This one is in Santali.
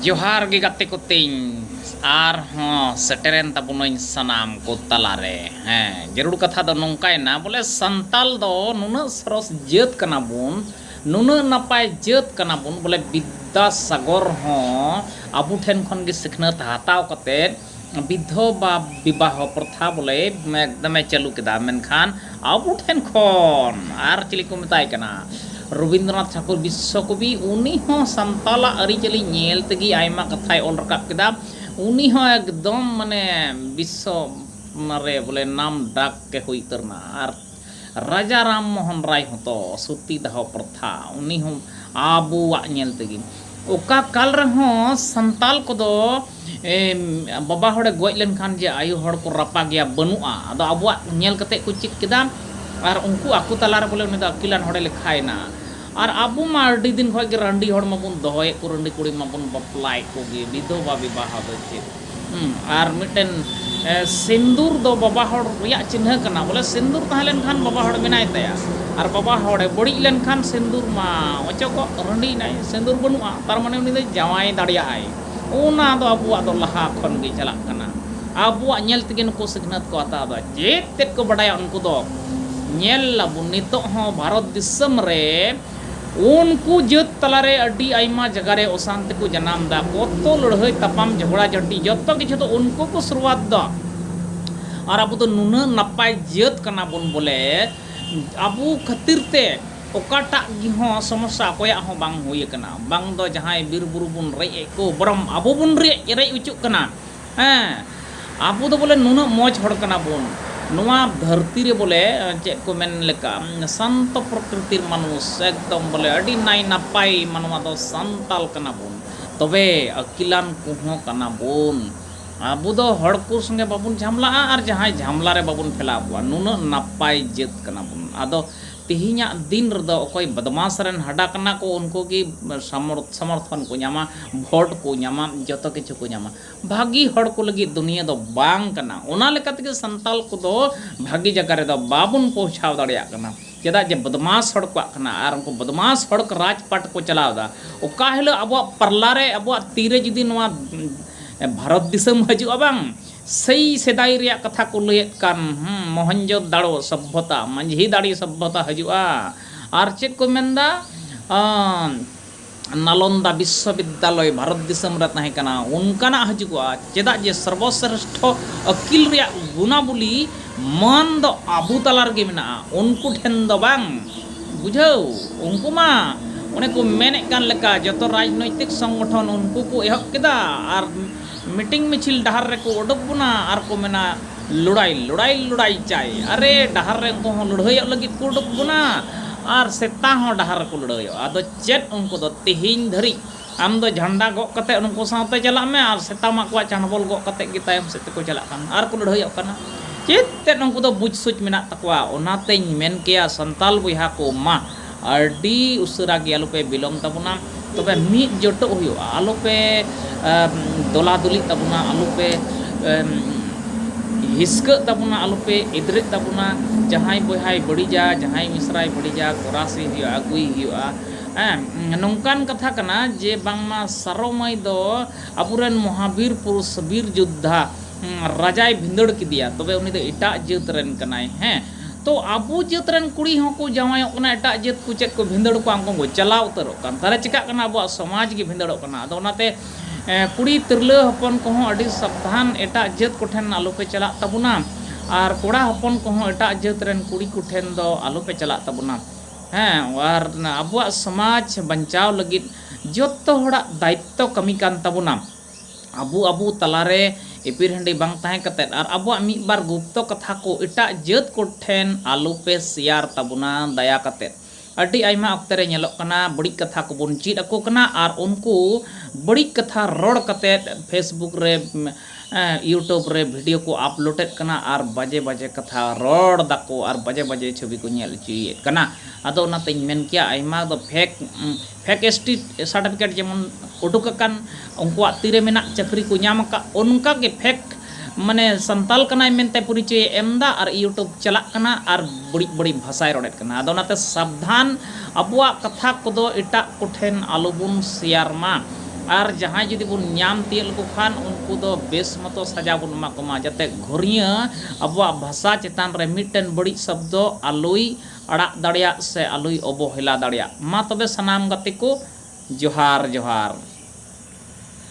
ᱡᱚᱦᱟᱨ ᱜᱮ ᱜᱟᱛᱮ ᱠᱚ ᱛᱤᱧ ᱟᱨᱦᱚᱸ ᱥᱮᱴᱮᱨᱮᱱ ᱛᱟᱵᱚᱱᱟᱹᱧ ᱥᱟᱱᱟᱢ ᱠᱚ ᱛᱟᱞᱟᱨᱮ ᱦᱮᱸ ᱡᱟᱹᱨᱩᱲ ᱠᱟᱛᱷᱟ ᱫᱚ ᱱᱚᱝᱠᱟᱭᱮᱱᱟ ᱵᱚᱞᱮ ᱥᱟᱱᱛᱟᱞ ᱫᱚ ᱱᱩᱱᱟᱹᱜ ᱥᱚᱨᱚᱥ ᱡᱟᱹᱛ ᱠᱟᱱᱟ ᱵᱚᱱ ᱱᱩᱱᱟᱹᱜ ᱱᱟᱯᱟᱭ ᱡᱟᱹᱛ ᱠᱟᱱᱟ ᱵᱚᱱ ᱵᱚᱞᱮ ᱵᱤᱫᱽᱫᱟᱥᱟᱜᱚᱨ ᱦᱚᱸ ᱟᱵᱚ ᱴᱷᱮᱱ ᱠᱷᱚᱱ ᱜᱮ ᱥᱤᱠᱷᱱᱟᱹᱛ ᱦᱟᱛᱟᱣ ᱠᱟᱛᱮᱫ ᱵᱤᱫᱷᱚᱵᱟ ᱵᱤᱵᱟᱦᱚ ᱯᱨᱚᱛᱷᱟ ᱵᱚᱞᱮ ᱮᱠᱫᱚᱢᱮ ᱪᱟᱹᱞᱩ ᱠᱮᱫᱟ ᱢᱮᱱᱠᱷᱟᱱ ᱟᱵᱚ ᱴᱷᱮᱱ ᱠᱷᱚᱱ ᱟᱨ ᱪᱤᱞᱤ ᱠᱚ ᱢᱮᱛᱟᱭ ᱠᱟᱱᱟ ᱨᱚᱵᱤᱱᱫᱨᱚᱱᱟᱛᱷ ᱴᱷᱟᱠᱩᱨ ᱵᱤᱥᱥᱚ ᱠᱚᱵᱤ ᱩᱱᱤ ᱦᱚᱸ ᱥᱟᱱᱛᱟᱞᱟᱜ ᱟᱹᱨᱤᱪᱟᱹᱞᱤ ᱧᱮᱞ ᱛᱮᱜᱮ ᱟᱭᱢᱟ ᱠᱟᱛᱷᱟᱭ ᱚᱞ ᱨᱟᱠᱟᱵ ᱠᱮᱫᱟ ᱩᱱᱤ ᱦᱚᱸ ᱮᱠᱫᱚᱢ ᱢᱟᱱᱮ ᱵᱤᱥᱥᱚ ᱨᱮ ᱵᱚᱞᱮ ᱱᱟᱢ ᱰᱟᱠ ᱮ ᱦᱩᱭ ᱩᱛᱟᱹᱨ ᱮᱱᱟ ᱟᱨ ᱨᱟᱡᱟ ᱨᱟᱢ ᱢᱚᱦᱚᱱ ᱨᱟᱭ ᱦᱚᱸ ᱛᱚ ᱥᱚᱛᱤ ᱫᱟᱦᱚ ᱯᱨᱚᱛᱷᱟ ᱩᱱᱤ ᱦᱚᱸ ᱟᱵᱚᱣᱟᱜ ᱧᱮᱞ ᱛᱮᱜᱮ ᱚᱠᱟ ᱠᱟᱞ ᱨᱮᱦᱚᱸ ᱥᱟᱱᱛᱟᱞ ᱠᱚᱫᱚ ᱵᱟᱵᱟ ᱦᱚᱲᱮ ᱜᱚᱡ ᱞᱮᱱᱠᱷᱟᱱ ᱡᱮ ᱟᱭᱳ ᱦᱚᱲ ᱠᱚ ᱨᱟᱯᱟᱜᱮᱭᱟ ᱵᱟᱹᱱᱩᱜᱼᱟ ᱟᱫᱚ ᱟᱵᱚᱣᱟᱜ ᱧᱮᱞ ᱠᱟᱛᱮ ᱠᱚ ᱪᱮᱫ ᱠᱮᱫᱟ ᱟᱨ ᱩᱱᱠᱩ ᱟᱠᱚ ᱛᱟᱞᱟ ᱨᱮ ᱵᱚᱞᱮ ᱩᱱᱤ ᱫᱚ ᱟᱹᱠᱤᱞᱟᱱ ᱦᱚᱲᱮ ᱞᱮᱠᱷᱟᱭᱮᱱᱟ ᱟᱨ ᱟᱵᱚ ᱢᱟ ᱟᱹᱰᱤ ᱫᱤᱱ ᱠᱷᱚᱱ ᱜᱮ ᱨᱟᱺᱰᱤ ᱦᱚᱲ ᱢᱟᱵᱚᱱ ᱫᱚᱦᱚᱭᱮᱫ ᱠᱚ ᱨᱟᱺᱰᱤ ᱠᱩᱲᱤ ᱢᱟᱵᱚᱱ ᱵᱟᱯᱞᱟᱭᱮᱫ ᱠᱚᱜᱮ ᱵᱤᱫᱷᱚᱵᱟ ᱵᱤᱵᱟᱦᱚ ᱫᱚ ᱪᱮᱫ ᱟᱨ ᱢᱤᱫᱴᱮᱱ ᱥᱤᱱᱫᱩᱨ ᱫᱚ ᱵᱟᱵᱟ ᱦᱚᱲ ᱨᱮᱭᱟᱜ ᱪᱤᱱᱦᱟᱹ ᱠᱟᱱᱟ ᱵᱚᱞᱮ ᱥᱤᱱᱫᱩᱨ ᱛᱟᱦᱮᱸ ᱞᱮᱱᱠᱷᱟᱱ ᱵᱟᱵᱟ ᱦᱚᱲ ᱢᱮᱱᱟᱭ ᱛᱟᱭᱟ ᱟᱨ ᱵᱟᱵᱟ ᱦᱚᱲᱮ ᱵᱟᱹᱲᱤᱡ ᱞᱮᱱᱠᱷᱟᱱ ᱥᱤᱱᱫᱩᱨ ᱢᱟ ᱚᱪᱚᱜᱚᱜ ᱨᱟᱺᱰᱤ ᱮᱱᱟᱭ ᱥᱤᱱᱫᱩᱨ ᱵᱟᱹᱱᱩᱜᱼᱟ ᱛᱟᱨ ᱢᱟᱱᱮ ᱩᱱᱤ ᱫᱚ ᱡᱟᱶᱟᱭ ᱫᱟᱲᱮᱭᱟᱜᱼᱟᱭ ᱚᱱᱟ ᱫᱚ ᱟᱵᱚᱣᱟᱜ ᱫᱚ ᱞᱟᱦᱟ ᱠᱷᱚᱱ ᱜᱮ ᱪᱟᱞᱟᱜ ᱠᱟᱱᱟ ᱟᱵᱚᱣᱟᱜ ᱧᱮᱞ ᱛᱮᱜᱮ ᱱᱩᱠᱩ ᱥᱤᱠᱷᱱᱟᱹᱛ ᱠᱚ ᱦᱟᱛᱟᱣ ᱮᱫᱟ ᱪᱮᱫ ᱛᱮᱫ ᱠᱚ ᱵᱟᱰᱟᱭᱟ ᱩᱱᱠᱩ ᱫᱚ ᱧᱮᱞ ᱟᱵᱚᱱ ᱱᱤᱛᱚᱜ ᱦᱚᱸ ᱵᱷᱟᱨᱚᱛ ᱫᱤᱥᱚᱢ ᱨᱮ ᱩᱱᱠᱩ ᱡᱟᱹᱛ ᱛᱟᱞᱟ ᱨᱮ ᱟᱹᱰᱤ ᱟᱭᱢᱟ ᱡᱟᱜᱟ ᱨᱮ ᱚᱥᱟᱱᱛᱤ ᱠᱚ ᱡᱟᱱᱟᱢ ᱮᱫᱟ᱾ ᱠᱚᱛᱛᱚ, ᱞᱟᱹᱲᱦᱟᱹᱭ ᱛᱟᱯᱟᱢ, ᱡᱷᱚᱜᱽᱲᱟ ᱡᱷᱟᱹᱴᱤ ᱡᱚᱛᱚ ᱠᱤᱪᱷᱩ ᱫᱚ ᱩᱱᱠᱩ ᱠᱚ ᱥᱩᱨᱩᱣᱟᱛ ᱮᱫᱟ᱾ ᱟᱨ ᱟᱵᱚ ᱫᱚ ᱱᱩᱱᱟᱹᱜ ᱱᱟᱯᱟᱭ ᱡᱟᱹᱛ ᱠᱟᱱᱟ ᱵᱚᱱ ᱵᱚᱞᱮ ᱟᱵᱚ ᱠᱷᱟᱹᱛᱤᱨ ᱛᱮ ᱚᱠᱟᱴᱟᱜ ᱜᱮ ᱦᱚᱸ ᱥᱚᱢᱚᱥᱥᱟ ᱚᱠᱚᱭᱟᱜ ᱦᱚᱸ ᱵᱟᱝ ᱦᱩᱭ ᱟᱠᱟᱱᱟ᱾ ᱵᱟᱝ ᱫᱚ ᱡᱟᱦᱟᱸᱭ ᱵᱤᱨ ᱵᱩᱨᱩ ᱵᱚᱱ ᱨᱮᱡ ᱮᱫ ᱠᱚ ᱵᱚᱨᱚᱝ ᱟᱵᱚ ᱵᱚᱱ ᱨᱮᱡ ᱚᱪᱚᱜ ᱠᱟᱱᱟ᱾ ᱦᱮᱸ ᱟᱵᱚ ᱫᱚ ᱵᱚᱞᱮ ᱱᱩᱱᱟᱹᱜ ᱢᱚᱡᱽ ᱦᱚᱲ ᱠᱟᱱᱟ ᱵᱚᱱ ᱱᱚᱣᱟ ᱫᱷᱟᱹᱨᱛᱤ ᱨᱮ ᱵᱚᱞᱮ ᱪᱮᱫ ᱠᱚ ᱢᱮᱱ ᱞᱮᱠᱟ ᱥᱟᱱᱛᱚ ᱯᱨᱚᱠᱨᱤᱛᱤᱨ ᱢᱟᱱᱩᱥ ᱮᱠᱫᱚᱢ ᱵᱚᱞᱮ ᱟᱹᱰᱤ ᱱᱟᱭ ᱱᱟᱯᱟᱭ ᱢᱟᱱᱣᱟ ᱫᱚ ᱥᱟᱱᱛᱟᱞ ᱠᱟᱱᱟ ᱵᱚᱱ ᱛᱚᱵᱮ ᱟᱹᱠᱤᱞᱟᱱ ᱠᱚᱦᱚᱸ ᱠᱟᱱᱟ ᱵᱚᱱ ᱟᱵᱚ ᱫᱚ ᱦᱚᱲ ᱠᱚ ᱥᱚᱸᱜᱮ ᱵᱟᱵᱚᱱ ᱡᱷᱟᱢᱞᱟᱜᱼᱟ ᱟᱨ ᱡᱟᱦᱟᱸᱭ ᱡᱷᱟᱢᱞᱟ ᱨᱮ ᱵᱟᱵᱚᱱ ᱯᱷᱮᱞᱟᱣ ᱠᱚᱣᱟ ᱱᱩᱱᱟᱹᱜ ᱱᱟᱯᱟᱭ ᱡᱟᱹᱛ ᱠᱟᱱᱟ ᱵᱚᱱ ᱟᱫᱚ ᱛᱮᱦᱮᱧᱟᱜ ᱫᱤᱱ ᱨᱮᱫᱚ ᱚᱠᱚᱭ ᱵᱚᱫᱢᱟᱥ ᱨᱮᱱ ᱦᱟᱰᱟ ᱠᱟᱱᱟ ᱠᱚ ᱩᱱᱠᱩ ᱜᱮ ᱥᱚᱢᱚᱨᱛᱷᱚᱱ ᱠᱚ ᱧᱟᱢᱟ ᱵᱷᱳᱴ ᱠᱚ ᱧᱟᱢᱟ ᱡᱚᱛᱚ ᱠᱤᱪᱷᱩ ᱠᱚ ᱧᱟᱢᱟ ᱵᱷᱟᱹᱜᱤ ᱦᱚᱲ ᱠᱚ ᱞᱟᱹᱜᱤᱫ ᱫᱩᱱᱤᱭᱟᱹ ᱫᱚ ᱵᱟᱝ ᱠᱟᱱᱟ ᱚᱱᱟ ᱞᱮᱠᱟ ᱛᱮᱜᱮ ᱥᱟᱱᱛᱟᱲ ᱠᱚᱫᱚ ᱵᱷᱟᱹᱜᱤ ᱡᱟᱭᱜᱟ ᱨᱮᱫᱚ ᱵᱟᱵᱚᱱ ᱯᱳᱣᱪᱷᱟᱣ ᱫᱟᱲᱮᱭᱟᱜ ᱠᱟᱱᱟ ᱪᱮᱫᱟᱜ ᱡᱮ ᱵᱚᱫᱢᱟᱥ ᱦᱚᱲ ᱠᱚᱣᱟᱜ ᱠᱟᱱᱟ ᱟᱨ ᱩᱱᱠᱩ ᱵᱚᱫᱢᱟᱥ ᱦᱚᱲ ᱠᱚ ᱨᱟᱡᱽ ᱯᱟᱴ ᱠᱚ ᱪᱟᱞᱟᱣ ᱮᱫᱟ ᱚᱠᱟ ᱦᱤᱞᱳᱜ ᱟᱵᱚᱣᱟᱜ ᱯᱟᱨᱞᱟ ᱨᱮ ᱟᱵᱚᱣᱟᱜ ᱛᱤ ᱨᱮ ᱡᱩᱫᱤ ᱱᱚᱣᱟ ᱵᱷᱟᱨᱚᱛ ᱫᱤᱥᱚᱢ ᱦᱤᱡᱩᱜᱼᱟ ᱵᱟᱝ ᱥᱮᱭ ᱥᱮᱫᱟᱭ ᱨᱮᱭᱟᱜ ᱠᱟᱛᱷᱟ ᱠᱚ ᱞᱟᱹᱭᱮᱫ ᱠᱟᱱ ᱢᱚᱦᱮᱱᱡᱚᱫᱟᱲᱳ ᱥᱚᱵᱵᱷᱚᱛᱟ ᱢᱟᱹᱡᱷᱤ ᱫᱟᱲᱮ ᱥᱚᱵᱵᱷᱚᱛᱟ ᱦᱤᱡᱩᱜᱼᱟ ᱟᱨ ᱪᱮᱫ ᱠᱚ ᱢᱮᱱ ᱮᱫᱟ ᱱᱟᱞᱚᱱᱫᱟ ᱵᱤᱥᱥᱚ ᱵᱤᱫᱽᱫᱟᱞᱚᱭ ᱵᱷᱟᱨᱚᱛ ᱫᱤᱥᱚᱢ ᱨᱮ ᱛᱟᱦᱮᱸ ᱠᱟᱱᱟ ᱚᱱᱠᱟᱱᱟᱜ ᱦᱤᱡᱩᱜᱚᱜᱼᱟ ᱪᱮᱫᱟᱜ ᱡᱮ ᱥᱚᱨᱵᱚ ᱥᱨᱮᱥᱴᱷᱚ ᱟᱹᱠᱤᱞ ᱨᱮᱭᱟᱜ ᱜᱩᱱᱟᱵᱚᱞᱤ ᱢᱟᱹᱱ ᱫᱚ ᱟᱵᱚ ᱛᱟᱞᱟ ᱨᱮᱜᱮ ᱢᱮᱱᱟᱜᱼᱟ ᱩᱱᱠᱩ ᱴᱷᱮᱱ ᱫᱚ ᱵᱟᱝ ᱵᱩᱡᱷᱟᱹᱣ ᱩᱱᱠᱩ ᱢᱟ ᱚᱱᱮ ᱠᱚ ᱢᱮᱱᱮᱫ ᱠᱟᱱ ᱞᱮᱠᱟ ᱡᱚᱛᱚ ᱨᱟᱡᱽᱱᱳᱭᱛᱤᱠ ᱥᱚᱝᱜᱚᱴᱷᱚᱱ ᱩᱱᱠᱩ ᱠᱚ ᱮᱦᱚᱵ ᱠᱮᱫᱟ ᱟᱨ ᱢᱤᱴᱤᱝ ᱢᱤᱪᱷᱤᱞ ᱰᱟᱦᱟᱨ ᱨᱮᱠᱚ ᱚᱰᱚᱠ ᱵᱚᱱᱟ ᱟᱨ ᱠᱚ ᱢᱮᱱᱟ ᱞᱚᱲᱟᱭ ᱞᱚᱲᱟᱭ ᱞᱚᱲᱟᱭ ᱪᱟᱭ ᱟᱨᱮ ᱰᱟᱦᱟᱨ ᱨᱮ ᱩᱱᱠᱩ ᱦᱚᱸ ᱞᱟᱹᱲᱦᱟᱹᱭᱚᱜ ᱞᱟᱹᱜᱤᱫ ᱠᱚ ᱚᱰᱚᱠ ᱵᱚᱱᱟ ᱟᱨ ᱥᱮᱛᱟ ᱦᱚᱸ ᱰᱟᱦᱟᱨ ᱨᱮᱠᱚ ᱞᱟᱹᱲᱦᱟᱹᱭᱚᱜᱼᱟ ᱟᱫᱚ ᱪᱮᱫ ᱩᱱᱠᱩ ᱫᱚ ᱛᱮᱦᱮᱧ ᱫᱷᱟᱹᱨᱤᱡ ᱟᱢ ᱫᱚ ᱡᱷᱟᱱᱰᱟ ᱜᱚᱜ ᱠᱟᱛᱮ ᱩᱱᱠᱩ ᱥᱟᱶᱛᱮ ᱪᱟᱞᱟᱜ ᱢᱮ ᱟᱨ ᱥᱮᱛᱟ ᱢᱟ ᱟᱠᱚᱣᱟᱜ ᱪᱟᱱᱵᱚᱞ ᱜᱚᱜ ᱠᱟᱛᱮ ᱜᱮ ᱛᱟᱭᱚᱢ ᱥᱮᱫ ᱛᱮᱠᱚ ᱪᱟᱞᱟᱜ ᱠᱟᱱᱟ ᱟᱨ ᱠᱚ ᱞᱟᱹᱲᱦᱟᱹᱭᱚᱜ ᱠᱟᱱᱟ ᱪᱮᱫ ᱛᱮᱫ ᱩᱱᱠᱩ ᱫᱚ ᱵᱩᱡᱽ ᱥᱩᱡᱽ ᱢᱮᱱᱟᱜ ᱛᱟᱠᱚᱣᱟ ᱚᱱᱟᱛᱮᱧ ᱢᱮᱱ ᱠᱮᱭᱟ ᱥᱟᱱᱛᱟᱲ ᱵᱚᱭᱦᱟ ᱠᱚ ᱢᱟ ᱟᱹᱰᱤ ᱩᱥᱟᱹᱨᱟ ᱜᱮ ᱟᱞᱚᱯᱮ ᱵᱤᱞᱚᱢ ᱛᱟᱵᱚᱱᱟ ᱛᱚᱵᱮ ᱢᱤᱫ ᱡᱚᱴᱚᱜ ᱦᱩᱭᱩᱜᱼᱟ ᱟᱞᱚᱯᱮ ᱫᱚᱞᱟ ᱫᱚᱞᱤᱜ ᱛᱟᱵᱚᱱᱟ ᱟᱞᱚᱯᱮ ᱦᱤᱥᱠᱟᱹᱜ ᱛᱟᱵᱚᱱᱟ ᱟᱞᱚᱯᱮ ᱮᱫᱽᱨᱮᱜ ᱛᱟᱵᱚᱱᱟ ᱡᱟᱦᱟᱸᱭ ᱵᱚᱭᱦᱟᱭ ᱵᱟᱹᱲᱤᱡᱟ ᱡᱟᱦᱟᱸᱭ ᱢᱤᱥᱨᱟᱭ ᱵᱟᱹᱲᱤᱡᱟ ᱜᱚᱨᱟᱥᱮ ᱦᱩᱭᱩᱜᱼᱟ ᱟᱹᱜᱩᱭᱮ ᱦᱩᱭᱩᱜᱼᱟ ᱦᱮᱸ ᱱᱚᱝᱠᱟᱱ ᱠᱟᱛᱷᱟ ᱠᱟᱱᱟ ᱡᱮ ᱵᱟᱝᱢᱟ ᱥᱟᱨᱚ ᱢᱟᱹᱭ ᱫᱚ ᱟᱵᱚᱨᱮᱱ ᱢᱚᱦᱟ ᱵᱤᱨ ᱯᱩᱨᱩᱥ ᱵᱤᱨ ᱡᱳᱫᱽᱫᱷᱟ ᱨᱟᱡᱟᱭ ᱵᱷᱤᱸᱫᱟᱹᱲ ᱠᱮᱫᱮᱭᱟ ᱛᱚᱵᱮ ᱩᱱᱤ ᱫᱚ ᱮᱴᱟᱜ ᱡᱟᱹᱛ ᱨᱮᱱ ᱠᱟᱱᱟᱭ ᱦᱮᱸ ᱛᱚ ᱟᱵᱚ ᱡᱟᱹᱛ ᱨᱮᱱ ᱠᱩᱲᱤ ᱦᱚᱸ ᱠᱚ ᱡᱟᱶᱟᱭᱚᱜ ᱠᱟᱱᱟ ᱮᱴᱟᱜ ᱡᱟᱹᱛ ᱠᱚ ᱪᱮᱫ ᱠᱚ ᱵᱷᱤᱸᱫᱟᱹᱲ ᱠᱚᱣᱟ ᱩᱱᱠᱩ ᱠᱚ ᱪᱟᱞᱟᱣ ᱩᱛᱟᱹᱨᱚᱜ ᱠᱟᱱ ᱛᱟᱦᱚᱞᱮ ᱪᱤᱠᱟᱹᱜ ᱠᱟᱱᱟ ᱟᱵᱚᱣᱟᱜ ᱥᱚᱢᱟᱡᱽ ᱜᱮ ᱵᱷᱤᱸᱫᱟᱹᱲᱚᱜ ᱠᱟᱱᱟ ᱟᱫᱚ ᱚᱱᱟᱛᱮ ᱠᱩᱲᱤ ᱛᱤᱨᱞᱟᱹ ᱦᱚᱯᱚᱱ ᱠᱚᱦᱚᱸ ᱟᱹᱰᱤ ᱥᱟᱵᱫᱷᱟᱱ ᱮᱴᱟᱜ ᱡᱟᱹᱛ ᱠᱚᱴᱷᱮᱱ ᱟᱞᱚ ᱯᱮ ᱪᱟᱞᱟᱜ ᱛᱟᱵᱚᱱᱟ ᱟᱨ ᱠᱚᱲᱟ ᱦᱚᱯᱚᱱ ᱠᱚᱦᱚᱸ ᱮᱴᱟᱜ ᱡᱟᱹᱛ ᱨᱮᱱ ᱠᱩᱲᱤ ᱠᱚᱴᱷᱮᱱ ᱫᱚ ᱟᱞᱚ ᱯᱮ ᱪᱟᱞᱟᱜ ᱛᱟᱵᱚᱱᱟ ᱦᱮᱸ ᱟᱨ ᱟᱵᱚᱣᱟᱜ ᱥᱚᱢᱟᱡᱽ ᱵᱟᱧᱪᱟᱣ ᱞᱟᱹᱜᱤᱫ ᱡᱚᱛᱚ ᱦᱚᱲᱟᱜ ᱫᱟᱭᱤᱛᱛᱚ ᱠᱟᱹᱢᱤ ᱠᱟᱱ ᱛᱟᱵᱚᱱᱟ ᱟᱵᱚ ᱟᱵᱚ ᱛᱟᱞᱟ ᱨᱮ ᱮᱯᱤᱨ ᱦᱮᱸᱰᱤ ᱵᱟᱝ ᱛᱟᱦᱮᱸ ᱠᱟᱛᱮ ᱟᱨ ᱟᱵᱚᱣᱟᱜ ᱢᱤᱫ ᱵᱟᱨ ᱜᱩᱯᱛᱚ ᱠᱟᱛᱷᱟ ᱠᱚ ᱮᱴᱟᱜ ᱡᱟᱹᱛ ᱠᱚ ᱴᱷᱮᱱ ᱟᱞᱚ ᱯᱮ ᱥᱮᱭᱟᱨ ᱛᱟᱵᱚᱱᱟ ᱫᱟᱭᱟ ᱠᱟᱛᱮ᱾ ᱟᱹᱰᱤ ᱟᱭᱢᱟ ᱚᱠᱛᱮ ᱨᱮ ᱧᱮᱞᱚᱜ ᱠᱟᱱᱟ ᱵᱟᱹᱲᱤᱡ ᱠᱟᱛᱷᱟ ᱠᱚ ᱵᱚᱱ ᱪᱮᱫ ᱟᱠᱚ ᱠᱟᱱᱟ ᱟᱨ ᱩᱱᱠᱩ ᱵᱟᱹᱲᱤᱡ ᱠᱟᱛᱷᱟ ᱨᱚᱲ ᱠᱟᱛᱮ ᱯᱷᱮᱥᱵᱩᱠ ᱨᱮ ᱭᱩᱴᱩᱵᱽ ᱨᱮ ᱵᱷᱤᱰᱤᱭᱳ ᱠᱚ ᱟᱯᱞᱳᱰ ᱮᱫ ᱠᱟᱱᱟ ᱟᱨ ᱵᱟᱡᱮ ᱵᱟᱡᱮ ᱠᱟᱛᱷᱟ ᱨᱚᱲ ᱫᱟᱠᱚ ᱟᱨ ᱵᱟᱡᱮ ᱵᱟᱡᱮ ᱪᱷᱚᱵᱤ ᱠᱚ ᱧᱮᱞ ᱚᱪᱚᱭᱮᱫ ᱠᱟᱱᱟ᱾ ᱟᱫᱚ ᱚᱱᱟ ᱛᱮᱧ ᱢᱮᱱ ᱠᱮᱭᱟ ᱟᱭᱢᱟ ᱫᱚ ᱯᱷᱮᱠ ᱯᱷᱮᱠᱮᱥᱴᱤ ᱥᱟᱨᱴᱤᱯᱷᱤᱠᱮᱴ ᱡᱮᱢᱚᱱ ᱩᱰᱩᱠ ᱟᱠᱟᱱ ᱩᱱᱠᱩᱣᱟᱜ ᱛᱤ ᱨᱮ ᱢᱮᱱᱟᱜ ᱪᱟᱹᱠᱨᱤ ᱠᱚ ᱧᱟᱢ ᱟᱠᱟᱫ ᱚᱱᱠᱟ ᱜᱮ ᱯᱷᱮᱠ ᱢᱟᱱᱮ ᱥᱟᱱᱛᱟᱲ ᱠᱟᱱᱟᱭ ᱢᱮᱱᱛᱮ ᱯᱚᱨᱤᱪᱚᱭᱮ ᱮᱢ ᱮᱫᱟ ᱟᱨ ᱤᱭᱩᱴᱩᱵᱽ ᱪᱟᱞᱟᱜ ᱠᱟᱱᱟ ᱟᱨ ᱵᱟᱹᱲᱤᱡ ᱵᱟᱹᱲᱤᱡ ᱵᱷᱟᱥᱟᱭ ᱨᱚᱲᱮᱫ ᱠᱟᱱᱟ ᱟᱫᱚ ᱚᱱᱟᱛᱮ ᱥᱟᱵᱫᱷᱟᱱ ᱟᱵᱚᱣᱟᱜ ᱠᱟᱛᱷᱟ ᱠᱚᱫᱚ ᱮᱴᱟᱜ ᱠᱚᱴᱷᱮᱱ ᱟᱞᱚ ᱵᱚᱱ ᱥᱮᱭᱟᱨ ᱢᱟ ᱟᱨ ᱡᱟᱦᱟᱸᱭ ᱡᱩᱫᱤ ᱵᱚᱱ ᱧᱟᱢ ᱛᱤᱭᱳᱜ ᱞᱮᱠᱚ ᱠᱷᱟᱱ ᱩᱱᱠᱩ ᱫᱚ ᱵᱮᱥ ᱢᱚᱛᱚ ᱥᱟᱡᱟ ᱵᱚᱱ ᱮᱢᱟ ᱠᱚᱢᱟ ᱡᱟᱛᱮ ᱜᱷᱩᱨᱤᱭᱟᱹ ᱟᱵᱚᱣᱟᱜ ᱵᱷᱟᱥᱟ ᱪᱮᱛᱟᱱ ᱨᱮ ᱢᱤᱫᱴᱮᱱ ᱵᱟᱹᱲᱤᱡ ᱥᱚᱵᱽᱫᱚ ᱟᱞᱚᱭ ᱟᱲᱟᱜ ᱫᱟᱲᱮᱭᱟᱜ ᱥᱮ ᱟᱞᱚᱭ ᱚᱵᱚᱦᱮᱞᱟ ᱫᱟᱲᱮᱭᱟᱜ᱾ ᱢᱟ ᱛᱚᱵᱮ ᱥᱟᱱᱟᱢ ᱜᱟᱛᱮ ᱠᱚ ᱡᱚᱦᱟᱨ ᱡᱚᱦᱟᱨ᱾